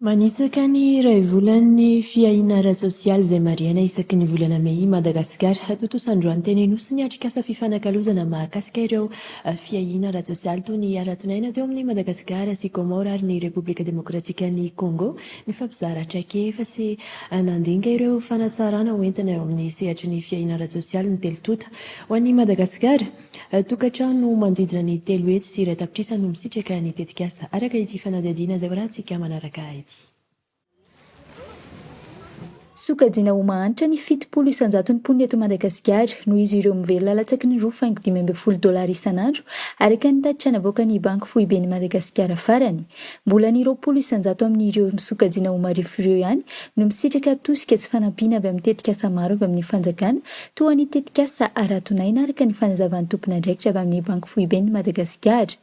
Manitsaka ny iray volan'ny fiahiana ara-tsosialy izay marihana isaky ny volana mey i Madagasikara. Hatontosa androany teny Anosy ny atrikasa fifanakalozana mahakasika ireo fiahiana ara-tsosialy toy ny haraton'aina teo amin'ny Madagasikara sy Comores ary ny Repoblika Demokratikan'i Congo ny fampizara traikefa sy nandinika ireo fanatsarana hoentina eo amin'ny sehatry ny fiahiana ara-tsosialy ny telo tonta ho an'i Madagasikara. Tokantrano manodidina ny telo hetsy sy iray tapitrisa no misitraka ny tetikasa, araka ity fanadihadiana izay hoarahantsika manaraka ity. Sokajiana ho mahantra ny fitopolo isanjaton'ny mponina eto Madagasikara, noho izy ireo mivelona latsaky ny roa faingo dimy ambin'ny folo dolara isan'andro, araka ny tatitra navoakan'ny Banky foiben'i Madagasikara farany. Mbola ny roapolo isanjato amin'ireo sokajiana ho marefo ireo ihany no misitraka tosika sy fanampiana avy amin'ny tetikasa maro avy amin'ny fanjakana, Toa ny tetikasa Aradonaina araka ny fanazavan'ny tompon'andraikitra avy amin'ny Banky Foiben'i Madagasikara.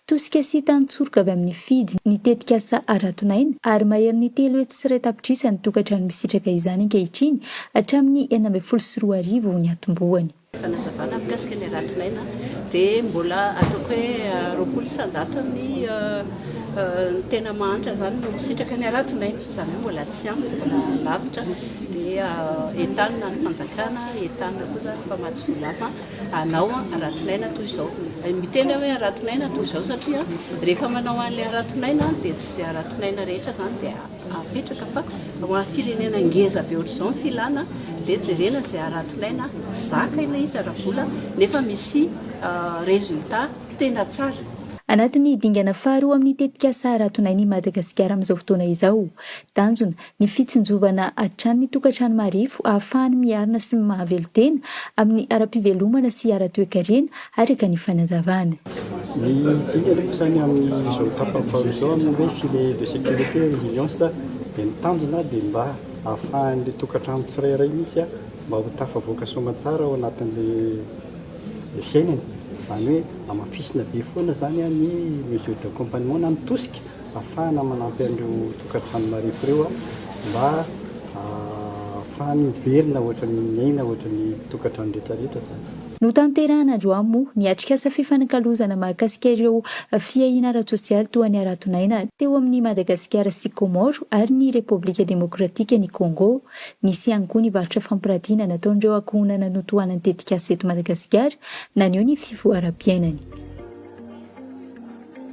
Tosika sy tantsoroka avy amin'ny FIDD ny tetikasa Aradonaina ary maherin'ny telo hetsy sy iray tapitrisa ny tokantrano misitraka izany ankehitriny hatramin'ny enina ambin'ny folo sy roa arivo ny atombohany. Fanazavana mikasika ny Aradonaina dia mbola ataoko hoe roapolo isan-jato ny tena mahantra izany no misitraka ny Aradonaina. Zareo mbola tsy ampy, mbola lavitra dia entanina ny fanjakana, entanina koa zany ny mpamatsy vola hafa hanao aratinaina toy izao. Miteny aho hoe aratinaina toy izao satria rehefa manao an'ilay aratinaina dia tsy aratinaina rehetra zany dia apetraka fa ho an'ny firenena ngeza be ohatr'izao ny filana dia jerena izay aratinaina zaka ilay izy ara-bola nefa misy résultat Tena tsara. Anatin'ny dingana faharoa amin'ny tetikasa Haratonay ny Madagasikara amin'izao fotoana izao. Tanjona, ny fitsinjovana hatrany ny tokantrano marefo ahafahany miarina sy mahavelo-tena amin'ny ara-pivelomana sy ara-toekarena, araka ny fanazavana. Ny dingana moa izany amin'izao tapany faharoa izao amin'ny hoe filet de sécurité et résilience dia ny tanjona dia mba ahafahan'ilay tokantrano tsirairay mihitsy mba ho tafavoaka soamantsara ao anatin'ilay nosainany, izany hoe hamafisina be foana izany ny mesure d'accompagnement na ny tosika ahafahana manampy an'ireo tokantrano marefo ireo mba ahafahany miverina ohatran'ny miaina ohatran'ny tokantrano rehetra rehetra izany. Notanterahina androany moa ny atrikasa fifanakalozana mahakasika ireo fiahiana ara-tsosialy toa ny haraton'aina teo amin'ny Madagasikara sy Comores ary ny Repoblika Demokratikan'i Congo. Nisy ihany koa ny varotra fampirantiana nataon'ireo ankohonana notohanan'ny tetikasa eto Madagasikara, naneho ny fivoaram-piainany.